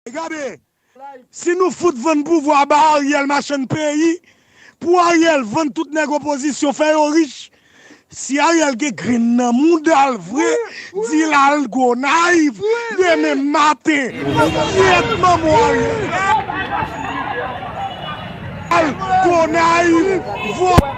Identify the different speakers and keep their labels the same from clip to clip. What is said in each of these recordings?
Speaker 1: Gade si nou fout vann pouvwa ba Ariel machann peyi pou Ariel vann tout nèg opozisyon fè yo rich si Ariel gen grenn nan moudal vre di lal Gonayiv demen maten kyèt manbo Ariel Gonayiv vòlò.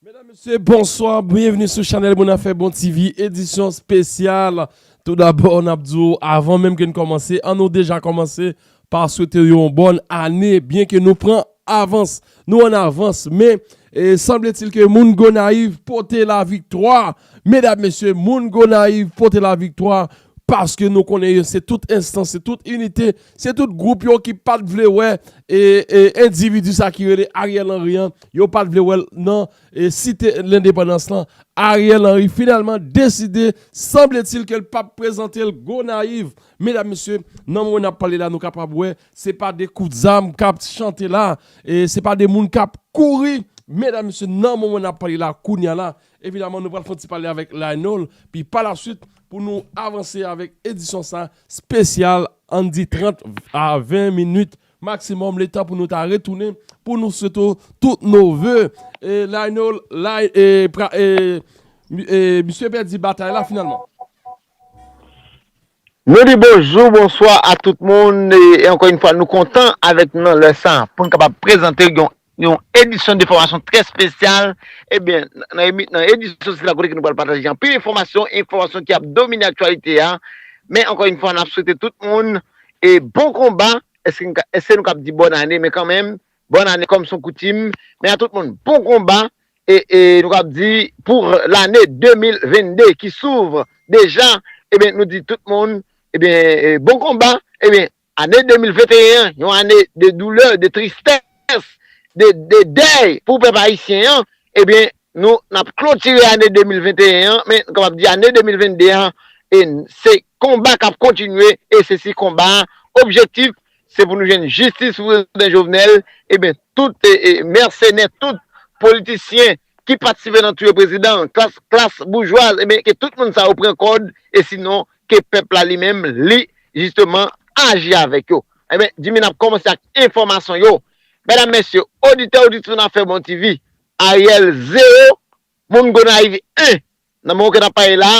Speaker 2: Medam mesye bonswa byenvni sou chanèl moun afè bon TV edisyon spesyal tou dabò nap di w avan menm ke n kòmanse an nou deja kòmanse pa swete w yon bòn ane byen ke nou pran avans nou an avans men sanbletil ke moun Gonayiv pote la viktwa medam mesye moun Gonayiv pote la viktwa paske nou konnen yo se tout enstans se tout inite Se tout group yo ki pat vle wè individu sa ki rele Ariel Henry an, yo pat vle wèl nan site lendepandans lan, Ariel Henry finalman deside sanbletil kel pap prezantel Gonayiv, medam mesye nan moman nap pale la nou kapab wè se pa de kout zam kap chante la, se pa de moun kap kouri medam mesye nan moman nap pale la kounya la Evidaman nou pral fon ti pale avèk Lionel pi pa la swit pou nou avanse avèk edisyon sa spesyal ann di 30 a 20 minit maksimòm le tan pou nou ta retounen pou nou swete w tout nou ve e Lionel e misye pèdi batay la finalman.
Speaker 3: Nou di bonjou, bonswa a tout moun e ankò yon fwa nou kontan avèk nou nan lè sa pou nou kapab prezante yon edisyon de fòmasyon trè spesyal e byen nan edisyon sila kote ke nou pral pataje anpil enfòmasyon, enfòmasyon ki ap domine aktyalite a men ankò yon fwa nap swete tout moun e bon konba, eske nou kab di bòn ane men kanmenm Bòn ane kòm son koutim men a tout moun bon konba e nou kab di pou lane 2022 ki souvre deja ebyen nou di tout moun ebyen bon konba ebyen ane 2021 yon ane de doulè de tristès de dèy pou pèp ayisyen an ebyen nou nap klotire ane 2021 an men nou kapab di ane 2022 an se konba kap kontinye e se si konba objektif Se pou nou jwenn jistis pou prezidan Jovenel, eben tout mèsenè, tout politisyen ki patisipe nan touye prezidan an, klas boujwaz, eben ke tout moun sa yo pran kòd, e sinon ke pèp la li menm li jisteman aji avèk yo. Eben, Jimmy nap kòmanse ak enfòmasyon yo. Medam, mesye, oditè, oditris nan Fè Bon TV, Ariel 0, moun Gonayiv 1. Nan moman ke nap pale la,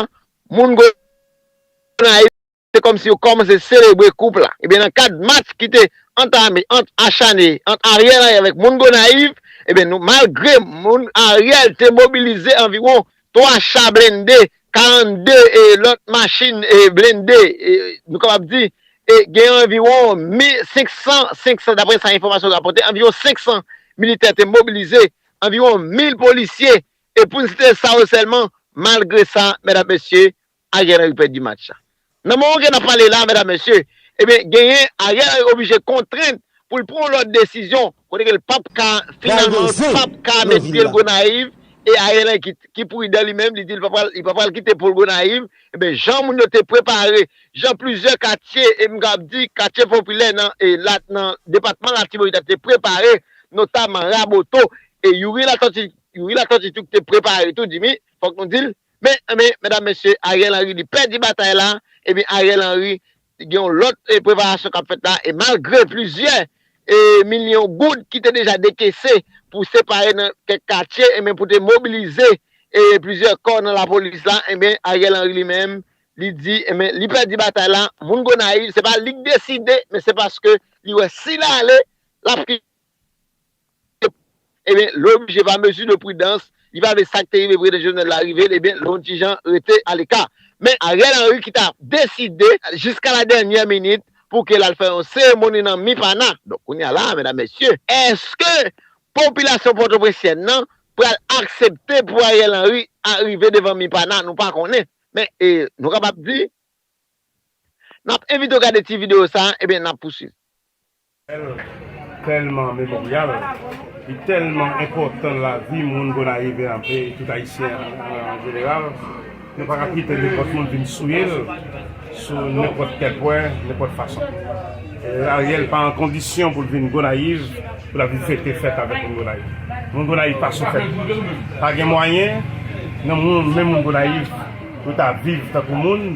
Speaker 3: moun Gonayiv. Se kòmsi yo kòmanse selebre koup la. Ebyen nan kad match ki te antame ant achane ant Ariel Henry avèk moun Gonayiv, ebyen nou malgre moun Ariel te mobilize anviwon 3 cha blende, 42 e lòt machin e blende e nou kapab di e gen anviwon mi 500, 500 daprè sa enfòmasyon rapòte anviwon 500 militè te mobilize, anviwon 1000 polisye e pou n site sa yo sèlman malgre sa mèdam mesye Ariel Henry pèdi match la. Nan moman ke nap pale la medam mesye, ebyen genyen Ariel Henry oblije kontrent pou l pran yon lòt desizyon kote ke l pap ka finalman l pap ka met pye l Gonayiv e Ariel Henry ki pridan li menm li di li pa pral li pa pral kite poul Gonayiv ebyen jan moun yo te prepare jan plizyè katye e m kab di katye popilè nan e lat nan depatman Latibonit la te prepare notaman Raboto e Youri Latòti Youri Latòti tou ki te prepare tou Dimi fòk nou di l Men, men, medam, mesye, Ariel Henry li pèdi batay la, ebyen Ariel Henry gen yon lòt preparasyon k ap fèt la e malgre plizyè e milyon goud ki te deja dekese pou separe nan kèk katye ebyen pou te mobilize e plizyè kò nan lapolis la ebyen Ariel Henry li menm li di ebyen li pèdi batay la, moun Gonayiv se pa li k deside men se paske li wè si l ale l ap. Ebyen, lè w oblije pa mezi de pridans, li pa vle sa k te rive Prezidan Jovenel la rive l, ebyen, lè w ti jan rete aleka. Men, Ariel Henry ki ta deside jiska la dènyè minit pou ke l al fè yon seremoni nan Mipana. Donk, kounye a la a, medam, mesye, èske popilasyon pòtoprensyen nan pral aksepte pou Ariel Henry arive devan Mipana? Nou pa konnen. Men, e, nou kapab di, n ap envite w gade ti videyo sa a, ebyen, n ap pouswiv.
Speaker 4: Telman memoryal, li telman enpotan nan lavi moun Gonayiven an e tout Ayisyen an jeneral, nou pa ka kite nenpot moun vin souye l sou nenpot kel pwen, nenpot fason. Ariel pa an kondisyon pou l vin Gonayiv pou l ap vin fete fèt avek moun Gonayiv. Moun Gonayiv pa sou fèt. Pa gen mwayen nan moun men moun Gonayiv pou ta viv tankou moun.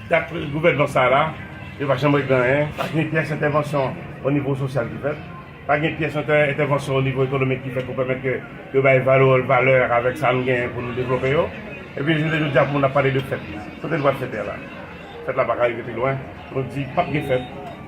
Speaker 4: Dat gouvènman sa la, yo pa janm regle anyen, pa gen pyès entèvansyon o nivo sosyal ki fèt, pa gen pyès entèvansyon o nivo ekonomik ki fèt pou pèmèt ke yo bay valè avèk sa nou genyen pou nou devlope yo. Epi jounen jodi a pou moun ap pale de fèt. Kote nou pral fete a la? Fèt la pa ka rive pi lwen. Nou di pap gen fèt.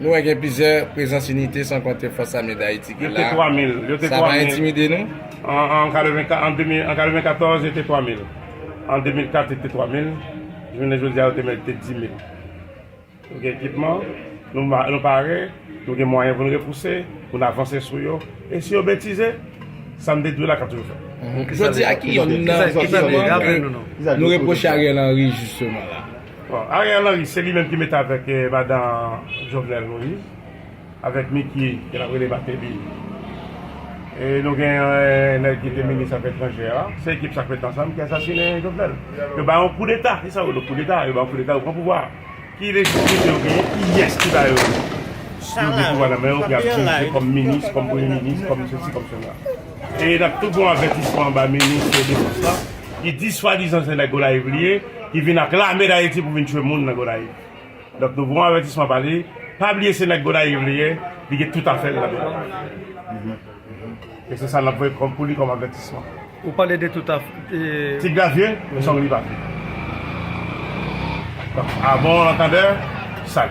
Speaker 4: Nou wè gen
Speaker 5: plizyè prezans inite san konte Fòs Ame Dayiti ki
Speaker 4: la, sa pa entimide
Speaker 5: nou?
Speaker 4: An 94 yo te 3 mil, an 2004 yo te 3 mil, jounen jodi a yo te mète 10 mil. Nou gen ekipman, nou pare, nou gen mwayen pou nou repouse, pou nou avanse sou yo, e si yo betize, sa nou te di yo la k ap toujou fèt. Jodi a ki youn
Speaker 5: nan zòt sòt nou repwoche Ariel Henry jisteman la? Bon Ariel Henry
Speaker 4: se li menm ki mete avèk madan Jovenel Moïse avèk Micky ke nap rele Martelly e nou gen yon nèg ki te minis afè etranjè a se ekip sa k mete ansanm ki asasine Jovenel yo bay yon koudeta se sa yo rele koudeta yo bay yon koudeta yo pran pouvwa a ki lejitimite yo genyen kiyès ki ba yo yo gen pouvwa nan men yo pou yap dirije kòm minis kòm premye minis kòm sesi kòm sela e nap tou fè yon avètisman ba minis defans la ki di swadizan se nèg Gonayiv li ye. ki vin ak lame dayiti pou vin tchwe moun nan gonayiv donk nou pran avètisman pa li pa bliye se nèg gonayiv li ye li gen tout afèl nan gonayiv e se sa nap voye kòm pou li kòm avètisman ou pale de tout
Speaker 6: af e ti gra vye men
Speaker 4: sòg li pa vye donk avon lantandè sal.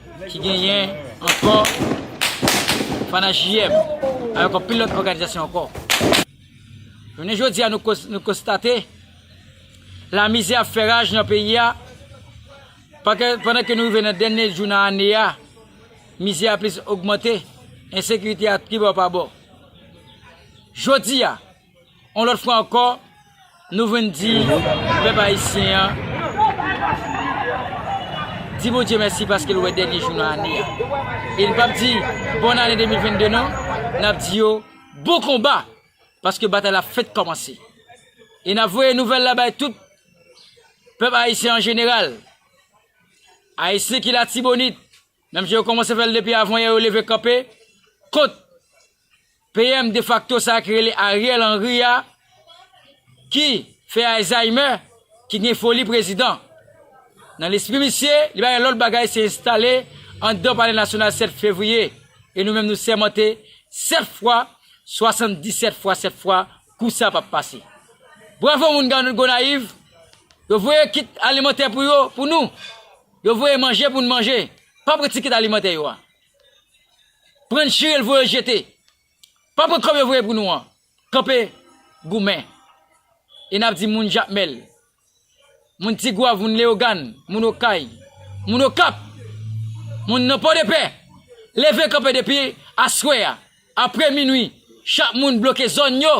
Speaker 7: Ki genyen ankò Fana JM avèk anpil lòt òganizasyon ankò. Jounen jodi a nou konstate lamizè ap fè raj nan peyi a pandan ke nou rive nan dènye jou nan ane a mizè a plis ogmante ensekirite a tribò pa bò. Jodi a. On lòt fwa ankò, nou vin di pèp ayisyen an, di Bondye mèsi paske l wè dènye jou nan ane a. E n p ap di bòn ane 2022 non, n ap di yo bon konba, paske batay la fèk kòmanse. E n ap voye nouvèl la bay tout pèp ayisyen an jeneral, ayisyen ki latibonit, Menmsi yo kòmanse fè l depi avan yè yo leve kanpe kont PM defakto sa ki rele Ariel Henry a ki fè Alzheimer, ki gen foli prezidan. Nan lespri misye, li pa gen lòt bagay se enstale anndan palè nasyonal 7 fevriye e nou menm nou sèmante 7 fwa 77 fwa 7 fwa kou sa pap pase. Bravo moun Gonayiv, yo voye kit alimantè pou yo, pou nou. Yo voye manje pou n manje, pa pran tikit alimantè yo a. Pran n chire l voye l jete. Pa pran kòb yo voye pou nou an. Kanpe goumen. E n ap di moun Jakmèl, moun Tigwav, moun Leyogàn, moun Okay, moun Okap, moun nan Pòdepè, leve kanpe depi aswè a, apre minui, chak moun bloke zòn yo,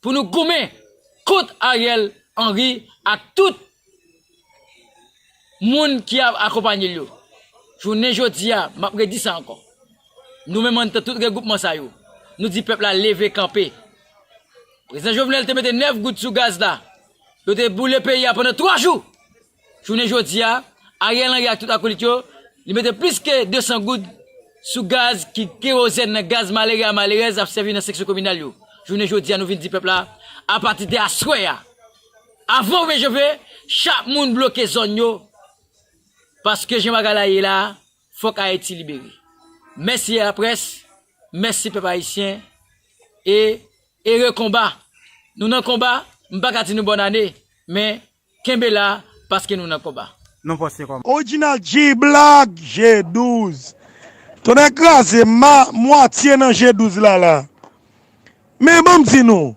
Speaker 7: pou nou goumen kont Ariel Henry ak tout moun ki ap akonpanye l yo. Jounen jodi a, m ap redi sa ankò, nou menm anndan tout regwoupman sa yo, nou di pèp la leve kanpe. Prezidan Jovenel te mete 9 goud sou gaz la, yo te boule peyi a pandan 3 jou. Jounen jodi a, Ariel Henry ak tout akolit yo, li mete plis ke 200 goud sou gaz ki kerozèn nan gaz malere a malerèz ap sèvi nan seksyon kominal yo. Jounen jodi a nou vin di pèp la, apati de aswè a, avan ou vin chofe, chak moun bloke zòn yo, paske jan bagay la ye la, fòk Ayiti libere. Mèsi a la près, mèsi pèp ayisyen, e ere konba. Nou nan konba, m pa ka di nou bòn ane, men Kenbe la paske nou nan konba. Non poste kòman.
Speaker 6: Original G-black
Speaker 1: G 12 tonnè kraze m ma mwatye nan G 12 la la men banm di nou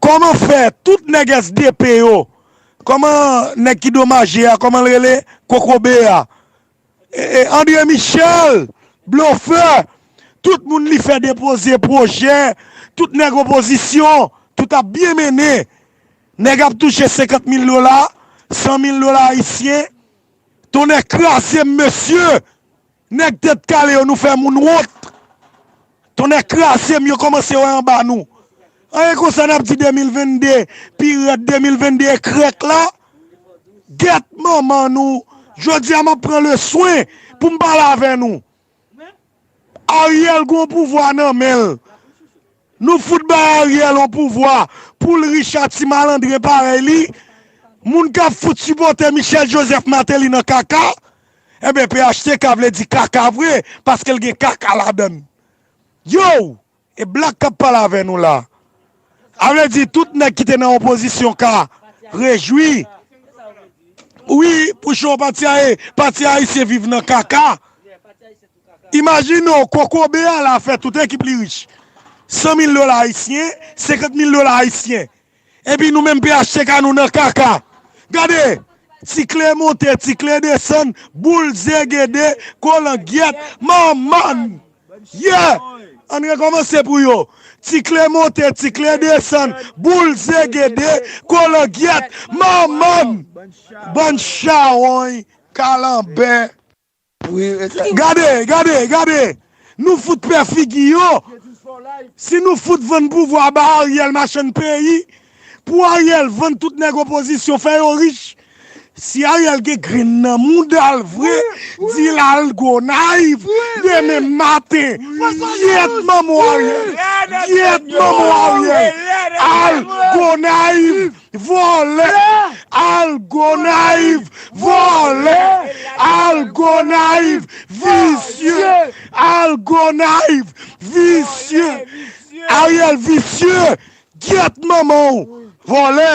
Speaker 1: kòman fè tout nèg SDP yo kòman nèg ki domaje a kòmanl rele kokobe a Andre Michel blofè tout moun li fè depoze pwojè tout nèg opozisyon tout ap byen mennen nèg ap touche 50 mil dola 100 mil dola ayisyen tonnè krazem mesye nèg tèt kale yo nou fè moun wont. Tonnè krazem yo komanse wè anba nou an e konsa nap di 2022 pi rèd 2022 ekrèk la gèt manman nou jodia map pran le swen poum pale avè nou Ariel gon pouvwa nan menl nou fout bay Ariel on pouvwa poul rich a ti malandren parèy li moun kap fout sipote Michel Joseph Martelly nan kaka. Enben phtk vle di kaka vre paske l gen kaka ladan l. Yow! E black kap pale avè nou la. A vle di tout nèg ki te nan opozisyon ka rejwi wi pou cho pati a e pati ayisyen viv nan kaka. Imajine w kokobe a la fè tout ekip li rich. 100 mil dola ayisyen, 50 mil dola ayisyen. Epi nou menm phtk nou nan kaka. Gade! Ti kle monte, ti kle desann, boul zegede, kolangyèt, manman! Yeah! Ann rekòmanse pou yo. Ti kle monte, ti kle desann, boul zegede, kolangyèt, manman! Bann chawony, kalanbè. Gade, gade, gade! Nou fout pè figi yo! Si nou fout vann pouvwa ba Ariel machann peyi, pou Ariel vann tout nèg opozisyon fè yo rich, si Ariel gen grenn nan moudal vre, di l al Gonayiv demen maten! Gyèt manman w Ariel! Gyèt manman w Ariel! Al Gonayiv! Vòlè al gonayiv vòlè al gonayiv visye al gonayiv visye ariel visye gyèt manmanw vòlè.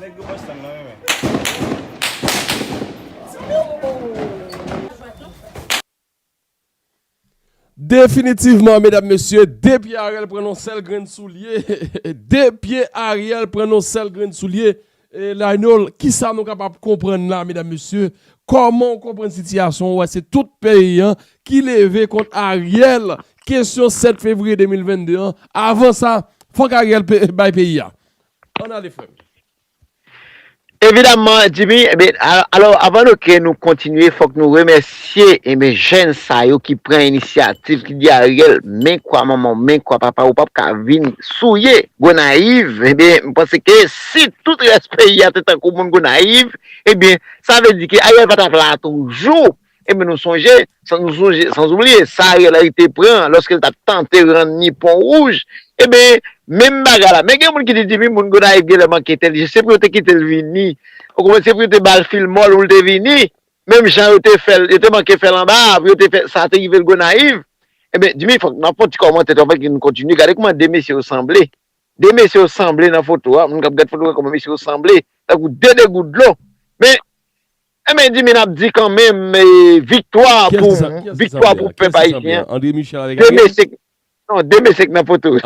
Speaker 8: Nèg yo Boston
Speaker 2: nan renmen. Definitivman medam mesye de pye Ariel pran yon sèl grenn soulye de pye Ariel pran yon sèl grenn soulye Lionel kisa nou kapab konprann la medam mesye kòman ou konprann sitiyasyon wè se tout peyi an ki leve kont Ariel kesyon 7 fevriye 2022 an avan sa fòk Ariel bay peyi a. Ann ale frè m. Evidamman
Speaker 3: Djimi enben alò avan nou ke nou kontinye fòk nou remèsye enben jèn sa yo ki pran inisyativ ki di Ariel men kwa manman w men kwa papa w ou pap ka vin souye Gonayiv enben m panse ke si tout rès peyi a te tankou moun Gonayiv enben sa vle di ke Ariel pa tap la toujou Enben nou sonje, sanzoubliye, sa Ariel Henry te pran lòske l t ap tante rann ni Pon Wouj, enben, menm bagay la. Men gen moun ki di, Dimi, moun Gonayiv genlè manke entèlijan. Se pou yo te kite l vini. Ou konprann? Se pou yo te ba l fil mò l pou l te vini. Menm jan yo te fè l, yo te manke fè l anba a, pou yo te fè sa te rive l Gonayiv. Enben, Dimi, fòk nou ap fè yon ti kòmantè tou anvan ke nou kontinye. Gade kouman de mesye yo sanble. De mesye yo sanble nan foto a. Moun k ap gad foto a wè kouman mesye yo sanble. Tankou de degou dlo. Men, Enben dimi nap di kanmenm viktwa pou viktwa pou pèp ayisyen
Speaker 2: non
Speaker 3: deme se k nan foto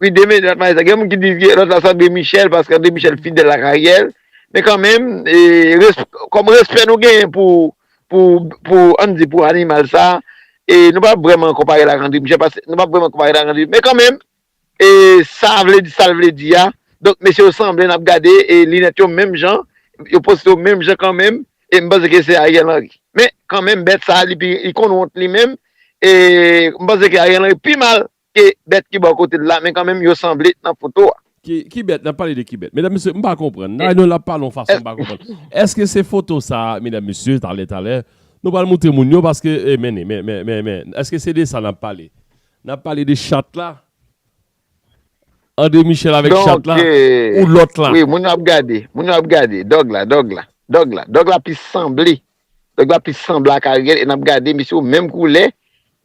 Speaker 2: wi deme
Speaker 3: gen moun ki di lòt la se andre michel paske andre michel fidèl ak ariel men kanmenm kòm respè nou genyen pou an di pou animal sa nou pa vreman konpare l ak andre michel paske nou pa vreman konpare l ak andre michel men kanmenm E sa vle di sal vle di a. Donk mesye yo sanble nap gade e linèt yo menm jan, yo poste yo menm jan kanmenm e m panse ke se Ariel Henry. Men kanmenm bèt sa li pi li konn wont li menm e m panse ke Ariel Henry pi mal ke bèt ki bò kote l la men kanmenm yo sanble nan foto a. Ki bèt? Nap
Speaker 2: pale de ki bèt? Medam mesye m pa konprann la non lap pale yon fason m pa konprann. Eske se foto sa medam mesye talè talè nou pral moutre moun yo paske men men men men eske se de sa nap pale? Nap pale de chat la. Andre Michel avek chat la ou lot la. Wi moun yo ap gade.
Speaker 3: Moun yo ap gade. Dog la. Dog la. Dog la. Dog la plis sanble. Dog la plis sanble ak Ariel e nap gade mesye yo menm koulè.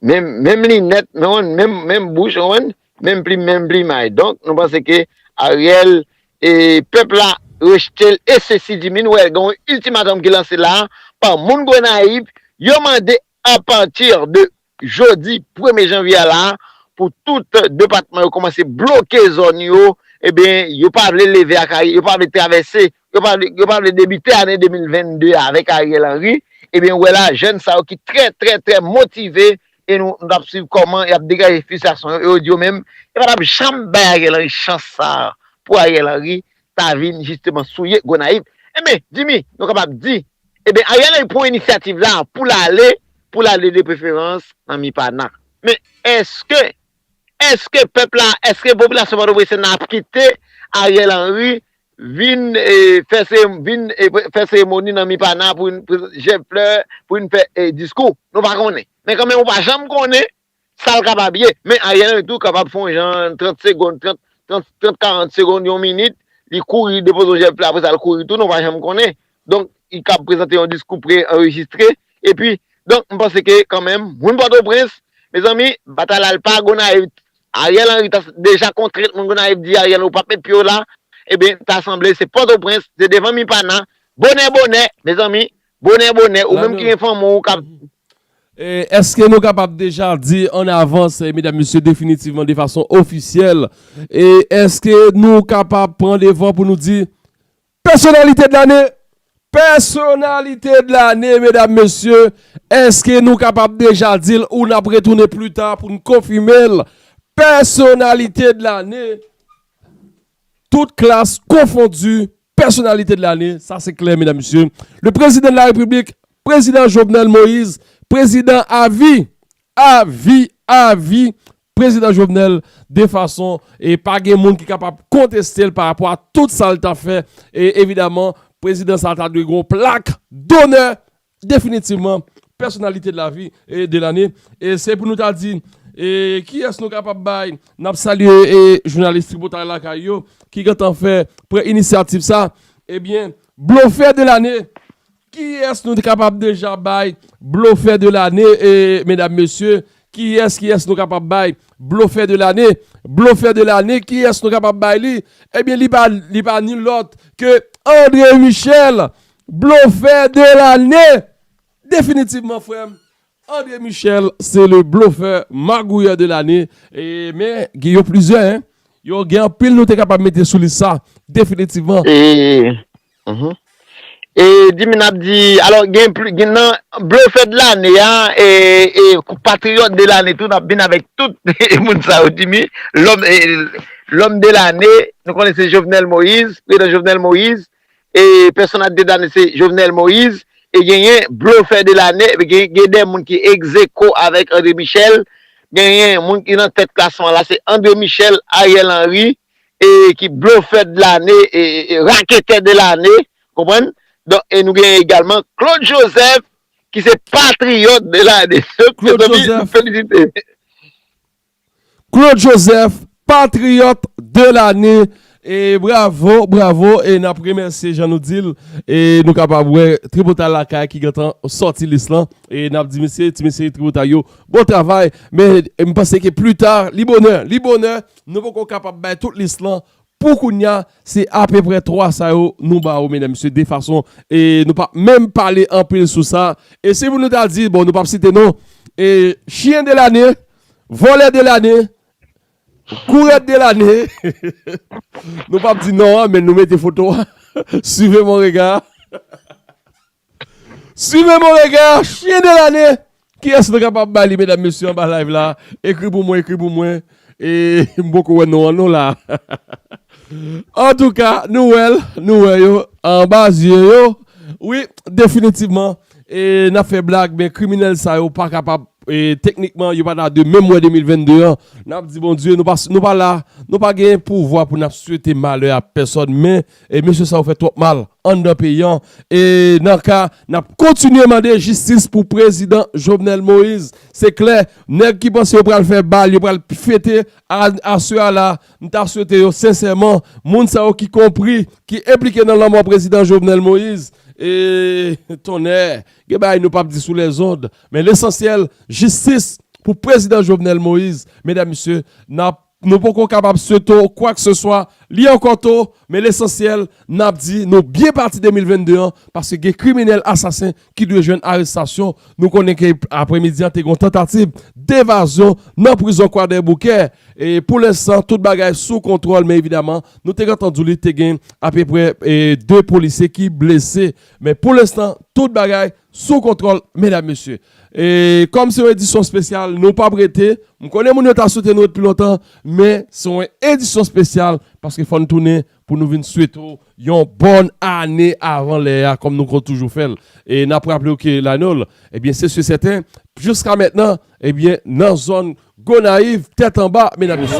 Speaker 3: Menm menm linèt menm menm menm bouch ou wen. Menm plim menm plimay. Donk nou panse ke Ariel e pep la rejetel e sesi di min ou el gen yon ultimatum ki lanse la pa moun Gonayiv yo mande Apati de jodi premye janvye a la a pou tout depatman yo kòmanse bloke zòn yo ebyen yo pa vle leve ak Ariel yo pa vle travèse yo pa vle debite ane 2022 a avèk Ariel Henry ebyen ou wè la jèn sa yo ki trè trè trè motive e nou t ap swiv kòman y ap degaje fristrasyon yo e yo di yo menm yo pa t ap janm bay Ariel Henry chans sa a pou Ariel Henry ta vin jisteman souye Gonayiv enben Jimmy nou kapab di. Ebyen Ariel Henry pran inisyativ la pou l ale, pou l ale de preferans nan Mipana. Men eske, eske pèp la, eske popilasyon Pòtoprens lan ap kite Ariel Henry vin fè se, vin fè seremoni nan Mipana pou vin prezante jèb flè, pou vin fè diskou? Nou pa konnen. Men kanmenm ou pa janm konnen Sa l kapab ye. Men Ariel Henry tou kapab fè yon jan 30 segond, 30, 40 segond, yon minit, li kouri depoze yon jèf la, apre sa l kouri tounen, ou pa janm konnen. Donk, li kab prezante yon diskou pre-anrejistre. Epi, donk, m panse ke kanmenm, moun Pòtoprens, mezanmi, batay la l pa Gonayiv. Ariel Henry ta deja kontre moun Gonayiv di Ariel ou pa p met pye w la, eben, ta sanble se Pòtoprens, se devan Mipana, bonè bonè, mezanmi, bonè bonè, ou menm ki gen fanmi w k ap
Speaker 2: Eske nou kapab deja di an avans medam mesye definitivman de fason ofisyèl e eske nou kapab pran devan pou nou di pèsonalite de lane? Pèsonalite de lane medam mesye eske nou kapab deja di l ou n ap retounen pli ta pou n konfime l pèsonalite de lane? Tout klas konfondi, pèsonalite de lane, sa se klè medam mesye, le prezidan de la repiblik, prezidan Jovenel Moïse, prezidan avi, avi, avi, prezidan Jovenel, de fason e pa gen moun ki kapab konteste l pa rapò a tout sa l ta fè, e evidaman prezidan sa ta dwe gen yon plak donè Definitivman, pèsonalite de la vi, de lane, e se pou nou ta di e kiyès nou kapab bay, n ap salye e jounalis Tripotay Lakay yo ki gentan fè, pran inisyativ sa, ebyen Blofè de lane, kiyès nou te kapab deja bay Blofè de lane e medam mesye, kiyès kiyès nou kapab bay Blofè de lane, Blofè de lane kiyès nou kapab bay li, ebyen li pa li pa ni lòt ke Andre Michel Blofè de lane! Definitivman frèm, André Michel se le blofè magouyè de lane, men gen yo plizyè hein, yo gen anpil nou te kapab mete sou lis sa, definitivman.
Speaker 3: E di min ap di, alò gen pli, gen nan blofè de lane a, e patriyòt de lane tou, nap vin avèk tout moun sa yo di min, lòm, lòm de lane, nou konnen se Jovenel Moïse, prezidan Jovenel Moïse, e pèsonaj de lane se Jovenel Moïse e genyen blofè de lane epi gen de moun ki egzeko avèk André Michel genyen moun ki nan tèt klasman la se André Michel, Ariel Henry e ki blofè de lane e raketè de lane konprann donk e nou genyen egalman Claude Joseph ki se patriyòt de lane Claude Joseph.
Speaker 2: Claude Joseph patriyòt de lane e bravo bravo e nap remèsye jan nou dil e nou kapab wè tripotay lakay ki gentan sòti lis lan e nap di mesye ti mesye tripotay yo bon travay men m panse ke pli ta li bonè li bonè nou poko kapab bay tout lis lan pou kounya se apeprè 3 sa yo nou ba ou medam mesye de fason e nou pa menm pale anpil sou sa e si pou nou ta di bon nou pap site non e chyen de lane. Vòlè de lane, kourèt de lane, nou pap di non an men nou mete foto a, suivez mon regard, suivez mon regard, chyen de lane, kiyès nou kapab ba li medam mesye anba live la, ekri pou mwen, ekri pou mwen, e m poko wè non an non la. Antouka nou wè l, nou wè yo anba zye yo, wi definitivman. E nap fè blag men kriminèl sa yo pa kapab teknikman yo pa ta de menm wè 2022 an nap di Bondye nou pa la nou pa gen pouvwa pou nap swete malè a pèsòn men mesye sa yo fè twòp mal anndan peyi an e nan ka nap kontinye mande jistis pou prezidan Jovenel Moïse se klè nèg ki panse yo pral fè bal yo pral fete Ann aswè a la, m ta swete yo sensèman, moun sa yo ki konpri, ki enplike nan lanmò prezidan Jovenel Moïse, e tonnè, gen bagay nou pap di sou lèzond, men lesansyèl, jistis pou prezidan Jovenel Moïse, medam mesye, n ap, nou poko kapab sweto kwakseswa, li ankò to, men lesansyèl, n ap di nou byen pati 2022 an, paske gen kriminèl asasen ki dwe jwenn arestasyon, nou konnen ke apre midi an te gen yon tantativ devazyon nan prizon kwadèboukè, e pou lensan tout bagay sou kontwòl men evidaman nou te gentan di w li te gen apeprè 2 polisye ki blese men pou lensan tout bagay sou kontwòl medam mesye. E kòm se yon edisyon spesyal nou pap rete, m konnen moun yo ta swete nou ret pi lontan men se yon edisyon spesyal paske fò n tounen pou nou vin swete w yon bòn ane avan lè a kòm nou konn toujou fè l. E n ap raple w ke lane w, ebyen se si e sèten, jiska mentnan, ebyen nan zòn Gonayiv, tèt anba, medam mesye.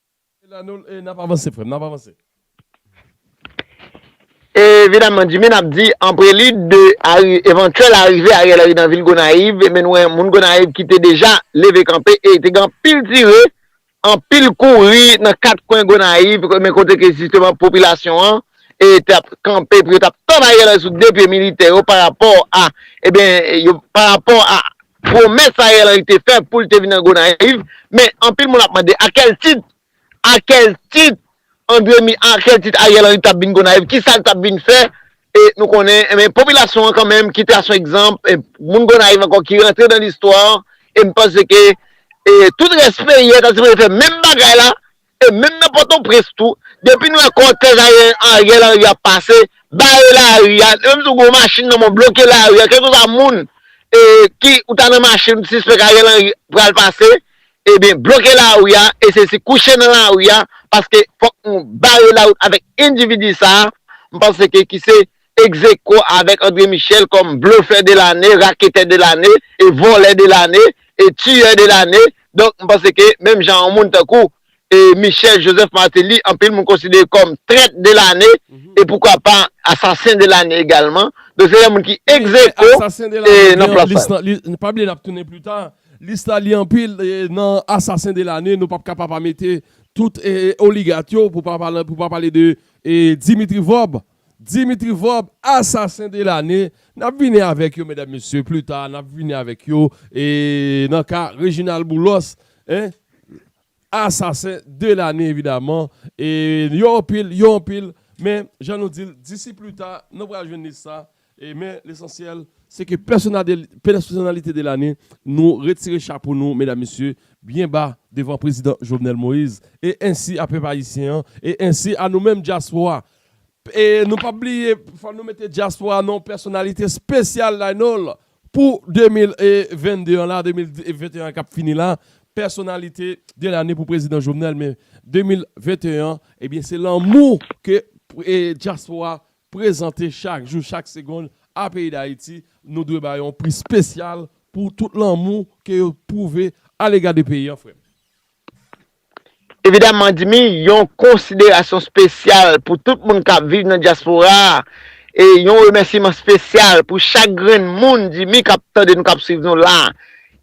Speaker 3: Evidaman Jimin ap di an prelid de evantyèl arive Ariel Henry nan vil Gonayiv, men nou wè moun Gonayiv ki te deja leve kanpe e te gen anpil tire, anpil kouri nan kat kwen Gonayiv men kote ke jisteman popilasyon an te ap kanpe pou yo t ap tann Ariel Henry sou 2 pye militè yo parapò a ebyen parapò a Pwomès Ariel Henry te fè pou l te vin nan Gonayiv, men anpil moun ap mande a kèl tit? A kèl tit Andre Mi, a kèl tit Ariel Henry t ap vin Gonayiv? Ki sa l t ap vin fè? E nou konnen, enben popilasyon an kanmenm kite a son egzanp, moun Gonayiv ankò ki rantre nan listwa, e m panse ke tout rès peyi a ta sipoze fè menm bagay la, E menm nan pòtoprens tou depi n wè kòtèj Ariel Henry ap pase bare lari a menm si w gen yon machin nan men w bloke lari a kèlkeswa moun ki ou ta nan machin ou t sispèk Ariel Henry pral pase ebyen bloke lari a e se si kouche nan lari a paske fòk nou bare lawout avèk endividi sa m panse ke ki se Ex-aequo avèk André Michel kòm blofè de lane, raketè de lane, e vòlè de lane, e tiyè de lane. Donk, m panse ke menm jan yon moun tankou Michel Joseph Martelly anpil moun konsidere kòm trèt de lane, e poukwa pa asasen de lane egalman. Donk se de moun ki ex-aequo nan plas sa yo. N pa bliye n ap tounen
Speaker 2: pli ta. Lis la li anpil nan asasen de lane. Nou p ap ka pa pa mete tout oligat yo pou pa pale de Dimitri Vorbe. Dimitri Vorb asasen de lane nap vini avèk yo medam mesye plita nap vini avèk yo e nan ka Reginald Boulos en asasen de lane evidaman e yo anpil yo anpil men jan nou dil disi plita nou pral jwenn lis la E men lesansyèl se ke pèsonalite de lane nou retire chapo nou medam mesye byen ba devan prezidan Jovenel Moïse e ensi a pèp ayisyen an e ensi a nou menm dyaspora e nou pap bliye fò nou mete dyaspora nan yon pèsonalite spesyal la non l pou 2022 an la 2021 an kap fini la pèsonalite de lane pou prezidan Jovenel men 2021 an ebyen se lanmou ke dyaspora prezante chak jou, chak segond a peyi Dayiti, nou dwe ba yo yon pri spesyal pou tout lanmou ke yo pwouve a lega de peyi an frè m.
Speaker 3: Evidaman Dimy, yon konsiderasyon spesyal pou tout moun kap viv nan dyaspora a e yon remèsiman spesyal pou chak grenn moun Dimy kap tande nou kap swiv nou la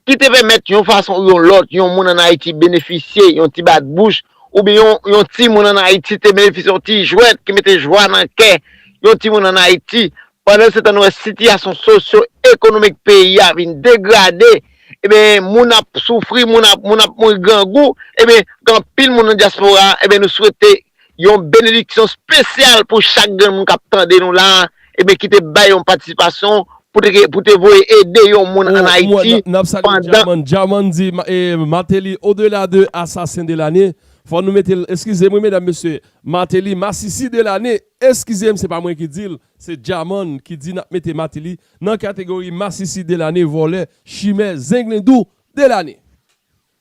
Speaker 3: ki te pèmèt yon fason ou yon lòt yon moun ann Ayiti benefisye yon ti bat bouch oubyen yon timoun ann Ayiti te benefisye yon ti jwèt ki mete jwa nan kè yon timoun ann Ayiti. Pandansetan nou wè sitiyasyon sosyo ekonomik peyi a vin degrade, eben moun ap soufri, moun ap mouri grangou, eben gen anpil moun nan dyaspora a, eben nou swete Yon benediksyon spesyal pou chak grenn moun kap tande nou la ebyen ki te bay yon patisipasyon pou te voye ede yon moun an Ayiti pandan.
Speaker 2: Djaman di Martelly au delà de assassin de l'année fò nou mete l eskize m wi medam mesye Martelly masisi de l'année eskize m se pa mwen ki di l se Djaman ki di nap mete Martelly nan kategori masisi de l'année vòlè chimè zenglendou de l'année.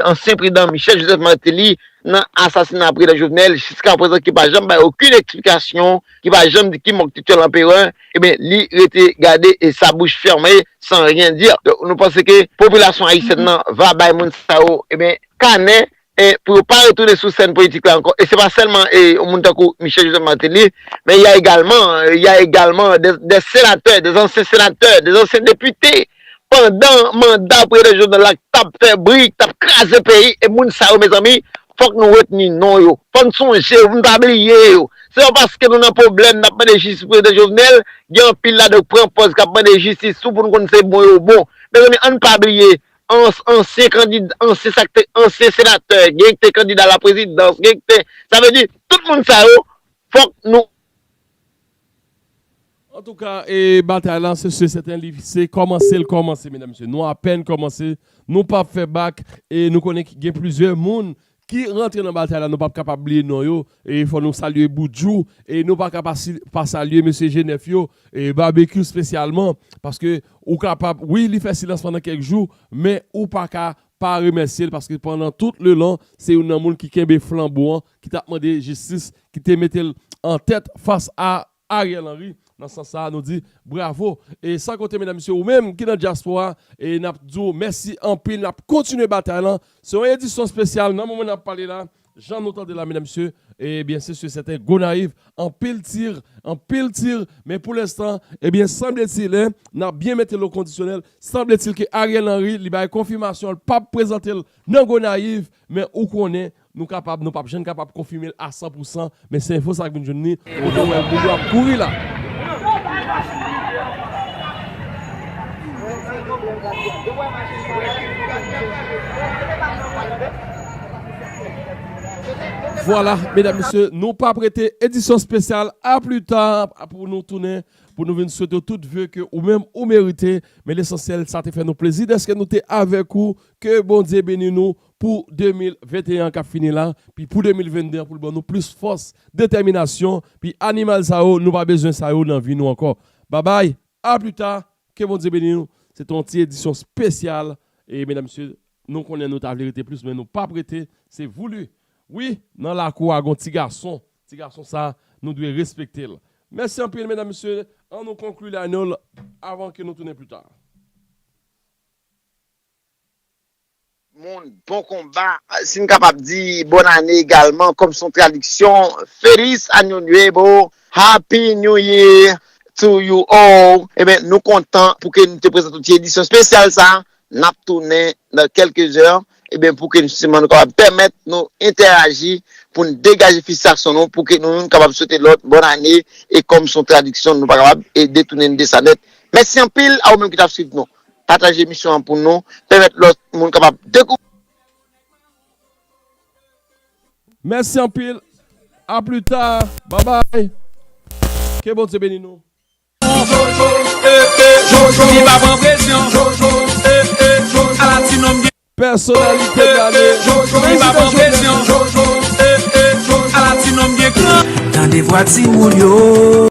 Speaker 3: Ansyen prezidan Michel Joseph Martelly nan asasina prezidan Jovenel jiska prezan ki pa janm bay okin eksplikasyon, ki pa janm di ki mòg Titjèl Anperè, ebyen li rete gade e sa bouch fèrme san ryen di. Donk nou panse ke popilasyon ayisyèn nan va bay moun sa yo ebyen kanè e pou yo pa retounen sou sèn politik la ankò e se pa sèlman e yon moun tankou Michel Joseph Martelly men y a egalman y a egalman dè senatè, dè ansyen senatè, dè ansyen depite pandan manda prezidan Jovenel la tap fè bri ki tap kraze peyi e moun sa yo mezanmi fòk nou retni non yo fò n sonje yo pou n pa bliye yo se pa paske nou nan pwoblèm nap mande jistis pou prezidan Jovenel gen anpil ladan yo k pran pòz kap mande jistis tou pou nou konn se bon yo bon mezanmi ann pa bliye ansyen kandid ansyen sa k te ansyen senatè gen k te kandida laprezidans gen k te sa vle di tout moun sa yo fòk nou.
Speaker 2: Antouka e batay la se su e sèten li se kòmanse l kòmanse medam mesye. Nou apèn kòmanse, nou pap fè bak e nou konnen gen plizyè moun ki rantre nan batay la nou pap kapab bliye non yo e fò nou salye Boudjou e nou pa ka pa salye mesye Jenèf yo e Babekyou spesyalman paske ou kapab wi li fè silans pandan kèk jou men ou pa ka pa remèsye l paske pandan tout le lon se youn nan moun ki kenbe flanbo an ki tap mande jistis ki te mete l an tèt fas a Ariel Henry nan sans sa nou di bravo e san konte medam mesye ou menm ki nan dyaspora e nap di w mèsi anpil nap kontinye batay lan se yon edisyon spesyal nan moman nap pale la jan nou tande la medam mesye e byen se si sèten Gonayiv anpil tir anpil tir men pou lenstan e byen sanbletil lè nap byen mete l o kondisyonèl sanbletil ke Ariel Henry li bay konfimasyon l pap prezante l nan Gonayiv men ou konnen Nou kapab, nou pap jann kapab konfime l a san pou san, men se enfo sa k vin jwenn ni, nou dwe wè l moun yo ap kouri la. Vwala, medam mesye, nou pa prete edisyon spesyal a pli ta pou nou tounen, pou nou vin swete w tout ve ke ou menm ou merite, men lesansyèl sa te fè nou plezi dèske nou te avèk ou, ke Bondye beni nou pou 2021 an kap fini la, pi pou 2022 an poul ban nou plis fòs, detèminasyon, pi animal sa yo nou pa bezwen sa yo nan vi nou ankò. Babay, a pli ta, ke Bondye beni nou, se te yon ti edisyon spesyal, e medam mesye nou konnen nou ta vle rete plis men nou pap rete, se voulu. Wi, nan lakou a gon ti gason, ti gason sa nou dwe respekte l. Mèsi anpil medam mesye, an nou konkli lane l avan ke nou tounen pli ta.
Speaker 3: moun bon konba si n kapab di bòn ane egalman kòm son tradiksyon feliz año nuevo happy new year to you all enben nou kontan pou ke nou te prezante w ti edisyon spesyal sa n ap tounen nan kèlke zè enben pou ke siman nou kapab pèmèt nou entèraji pou n degaje fisitasyon nou pou ke nou youn kapab swete lòt bòn ane e kòm son tradiksyon nou pa kapab e detounen de sa nèt mèsi anpil a ou menm ki t ap swiv nou. Pataje emisyon an pou nou pèmèt lòt moun kapab dekouvri.
Speaker 2: Mèsi anpil a pli ta babay ke Bondye beni nou. Pèsonalite de
Speaker 9: lane Prezidan Jovenel.